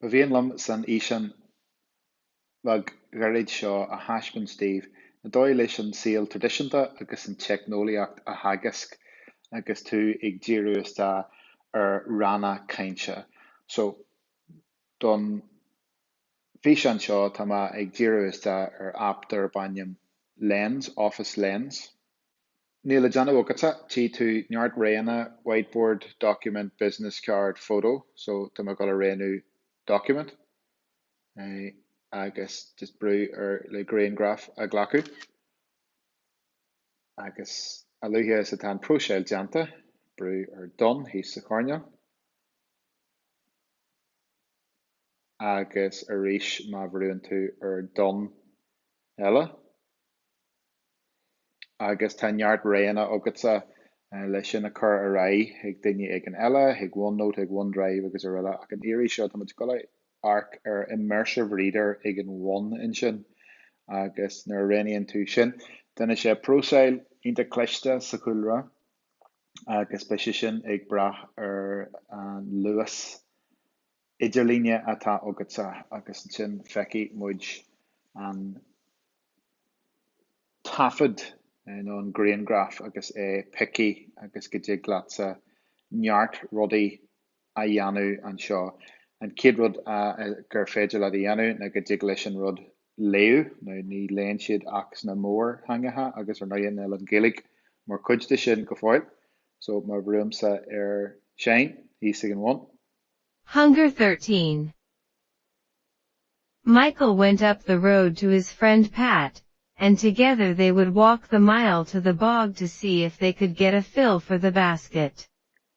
Ba mhian liom san fhíseán bheag ghairid seo a thaispeáint daoibh an dóigh leis an saol traidisiúnta agus an teicneolaíocht a theagasc agus tú ag díriú isteach ar ranna cainte. So, don. bhfíseán seo tá mé ag díriú isteach ar aip darb ainm Lens, Office Lens. Níl le déanamh agatsa, tchí tú neart roghanna, Whiteboard, Document, Business Card, Photo, so tá mé ag dul a roghnú Document agus just brú ar le grianghraf a ghlacadh agus a luaithe is atá an próiseáil déanta, brú ar Done thíos sa choirneál. agus arís má bhrúnn tú ar Done eile. Agus tá neart roghanna agatsa le sin a chur ar aghaidh chuig duine éigin eile, chuig OneNote, chuig OneDrive agus araile, ach an iarraidh seo tá muid ag dul a amharc ar immersive reader ag an bhun ansin. Agus nuair a roghnaíonn tú sin, déanfaidh sé próiseáil iontach cliste sa chúlra. agus beidh sé sin ag brath ar an luas idirlíne atá agatsa agus ansin feicfidh muid an taifead nó an grianghraf agus é pioctha agus go dtig leatsa neart rudaí a dhéanamh anseo. An chéad rud gur féidir leat a dhéanamh ná go dtig leis an rud léamh, nó ní léann siad ach sna mórtheangacha agus ar ndóigh níl an Ghaeilge mar chuid de sin go fóill. So má bhrúimse ar Seinn thíos ag an bhun. Hunger 13. Michael went up the road to his friend Pat, and together they would walk the mile to the bog to see if they could get a fill for the basket.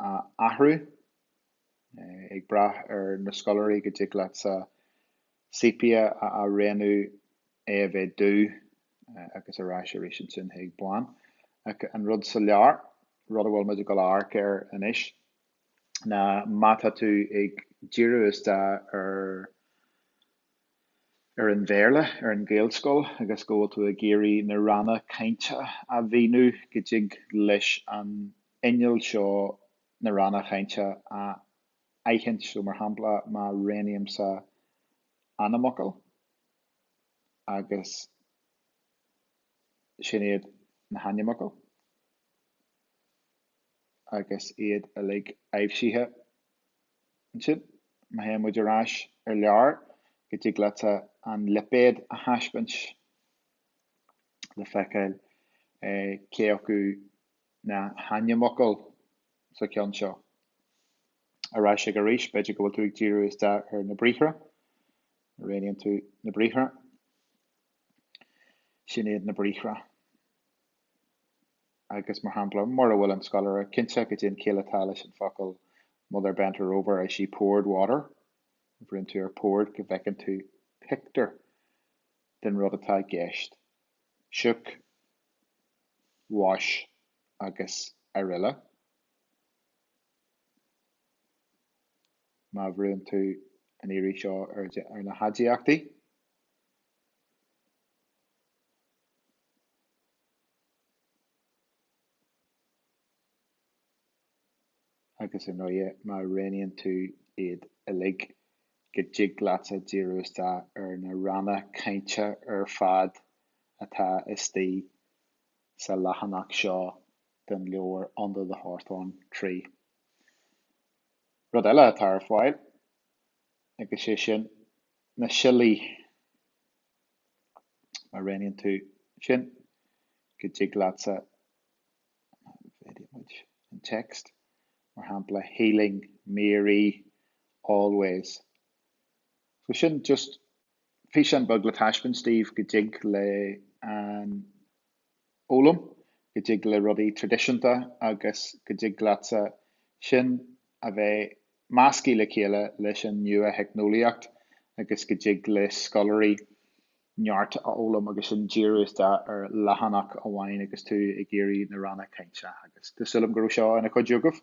a athrú, ag brath ar na scoláirí go dtig leatsa sepia a roghnú, é a bheith dubh agus ar ais arís ansin chuig bán. An rud sa leabhar, rud a bhfuil muid ag dul a amharc air anois, ná má tá tú ag díriú isteach ar. ar an Bhéarla ar an Ghaelscoil agus go bhfuil tú ag iarraidh na ranna cainte a mhíniú go dtig leis an inneall seo na ranna cainte a aithint so mar shampla má roghnaímse ainmfhocal agus sin iad na hainmfhocail agus iad uilig aibhsithe. ansin, má théann muid ar ais ar clear, go dtig leat an lipéad a thaispeáint le feiceáil cé acu na hainmfhocail sa cheann seo. Ar ais go arís, b'fhéidir go bhfuil tú ag díriú isteach ar na briathra. Roghnaíonn tú na briathra. Sin iad na briathra. agus mar shampla, mura bhfuil an scoláire cinnte goidé an chiall atá leis an fhocal mother bent over as she poured water, brúnn tú ar poured go bhfeiceann tú pictiúr den rud atá i gceist, shook, wash agus aroile. Má bhrúnn tú an iarraidh seo ar na haidiachtaí. agus i ndeireadh má roghnaíonn tú iad uilig go dtig leatsa díriú isteach ar na ranna cainte ar fad atá istigh sa leathanach seo den leabhar Under the Hawthorn Tree. Rud eile atá ar fáil, agus sé sin na siollaí. má roghnaíonn tú sin, go dtig leatsa an text, mar shampla healing Mary always. So sin just físeán beag le taispeáint daoibh go dtig le an. fhoghlaim, go dtig le rudaí traidisiúnta agus go dtig leatsa sin a bheith measctha le chéile leis an nua-theicneolaíocht agus go dtig le scoláirí neart a fhoghlaim agus iad ag díriú isteach ar leathanach amháin agus tú ag iarraidh na ranna cainte agus tá súil agam go raibh seo ina chuidiú agaibh.